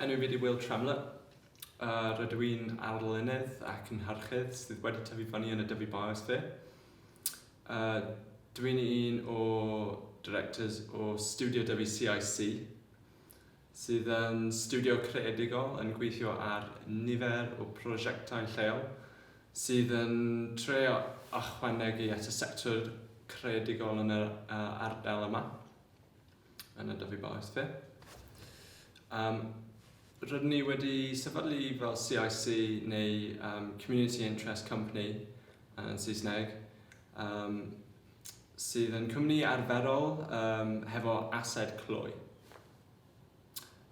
Enw fi di Will Tremlett, rydw i'n arlunydd ac yn harchydd sydd wedi tyfu fyny yn y Dyfi Biosphere. Dw i'n un o directors o Studio Dyfi CIC, sydd yn studio creadigol yn gweithio ar nifer o prosiectau lleol sydd yn trio ychwanegu at y sector creadigol yn yr ardal yma. yn y Dyfi Bach SP. Um, rydyn ni wedi sefydlu fel CIC neu um, Community Interest Company yn Saesneg um, sydd yn cwmni arferol um, hefo ased clwy.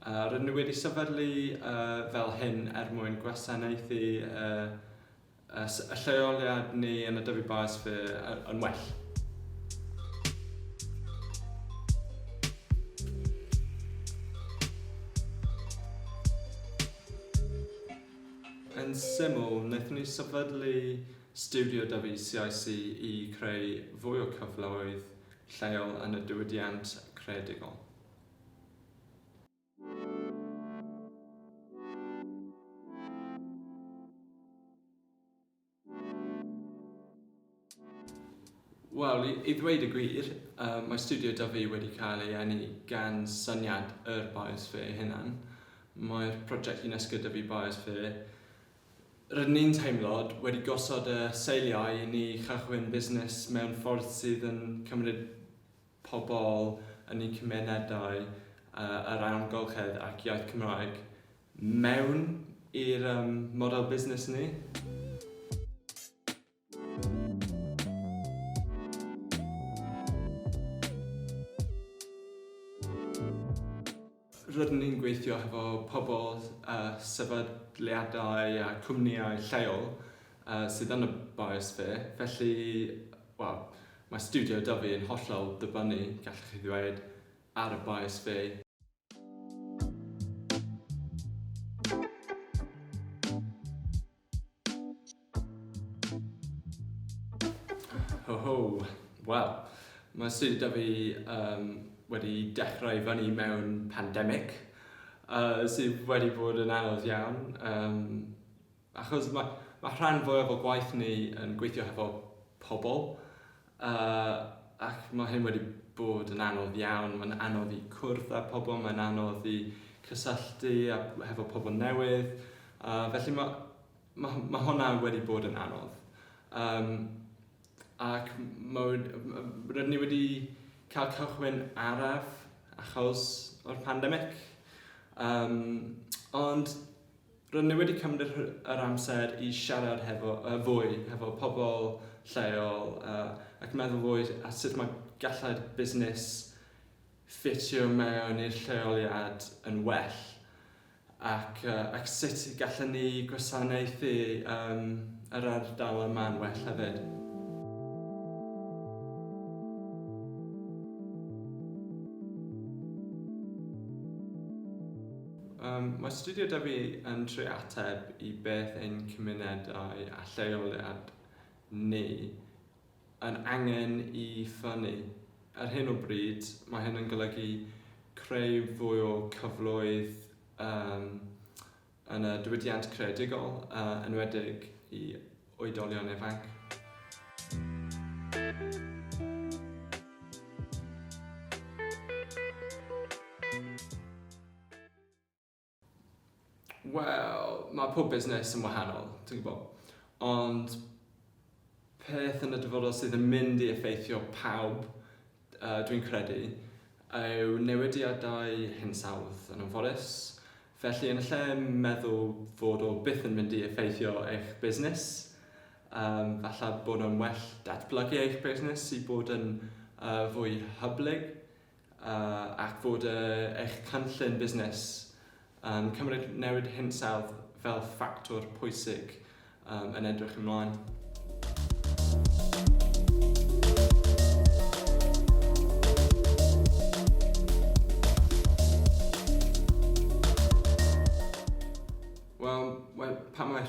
Uh, rydyn ni wedi sefydlu uh, fel hyn er mwyn gwasanaethu uh, Ys y lleoliad neu yn y dyfu baes fe yn well. Yn syml, wnaethon ni sefydlu stiwdio dyfu CIC i creu fwy o cyfleoedd lleol yn y diwydiant creadigol. Wel, i, i ddweud y gwir, uh, mae studio da fi wedi cael ei enni gan syniad yr biosphere hynna'n. Mae'r prosiect yn esgyda fi biosphere. Rydyn ni'n teimlod wedi gosod y seiliau i ni chychwyn busnes mewn ffordd sydd yn cymryd pobl yn eu cymunedau yr amgylchedd ac iaith Cymraeg mewn i'r um, model busnes ni. Rydyn ni'n gweithio hefo pobl, sefydliadau a chwmnïau lleol sydd yn y biosphere, felly, wel, mae Stiwdio Dyfi yn hollol dibynnu, gallwch chi ddweud, ar y biosphere. Ho ho, wel, mae swydd da fi um, wedi dechrau fyny mewn pandemig, uh, sydd wedi bod yn anodd iawn, um, achos mae, mae rhan fwyaf o gwaith ni yn gweithio hefo pobl, Yy ac ma' hyn wedi bod yn anodd iawn, ma'n anodd i cwrdd â pobl, mae'n anodd i cysylltu a hefo pobl newydd, yy felly ma' ma' ma' hwnna wedi bod yn anodd yym ac ma' w- yy rydyn ni wedi cael cychwyn araf achos o'r pandemic yym ond R'yn ni wedi cymryd yr amser i siarad hefo, yy, fwy hefo pobl lleol, yy, ac meddwl fwy ar sut mae gallai'r busnes ffitio mewn i'r lleoliad yn well, ac, yy, ac sut y gallen ni gwasanaethu, yym, yr ardal yma'n well hefyd. Yym, mae Studio Dyfi yn trio ateb i beth ein cymunedau a lleoliad ni yn angen i ffynnu. Ar hyn o bryd, mae hyn yn golygu creu fwy o cyfloedd yym yn y diwydiant creadigol, yn enwedig i oedolion ifanc. Wel, mae pob busnes yn wahanol, ti'n gwybod. Ond peth yn y dyfodol sydd yn mynd i effeithio pawb dwi'n credu, yw newidiadau hinsawdd yn anforis, felly yn lle meddwl fod o byth yn mynd i effeithio eich busnes, um, falle bod o'n well datblygu eich busnes i bod yn uh, fwy hyblyg uh, ac fod uh, eich cynllun busnes Yn cymryd newid hinsawdd fel ffactor pwysig yn edrych ymlaen.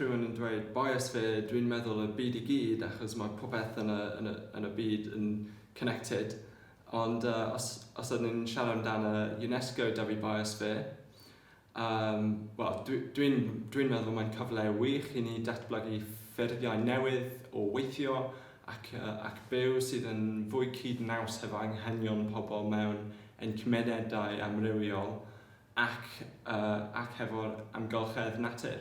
rhywun yn dweud bias fe, dwi'n meddwl y byd i gyd achos mae popeth yn y, yn y, yn y byd yn connected Ond os os ydyn ni'n siarad amdano UNESCO Dyfi Biosphere yym wel dwi dwi'n dwi'n meddwl mae'n cyfle wych i ni datblygu ffurfiau newydd o weithio ac yy ac byw sydd yn fwy cyd-naws hefo anghenion pobl mewn ein cymunedau amrywiol ac yy ac hefo'r amgylchedd natur.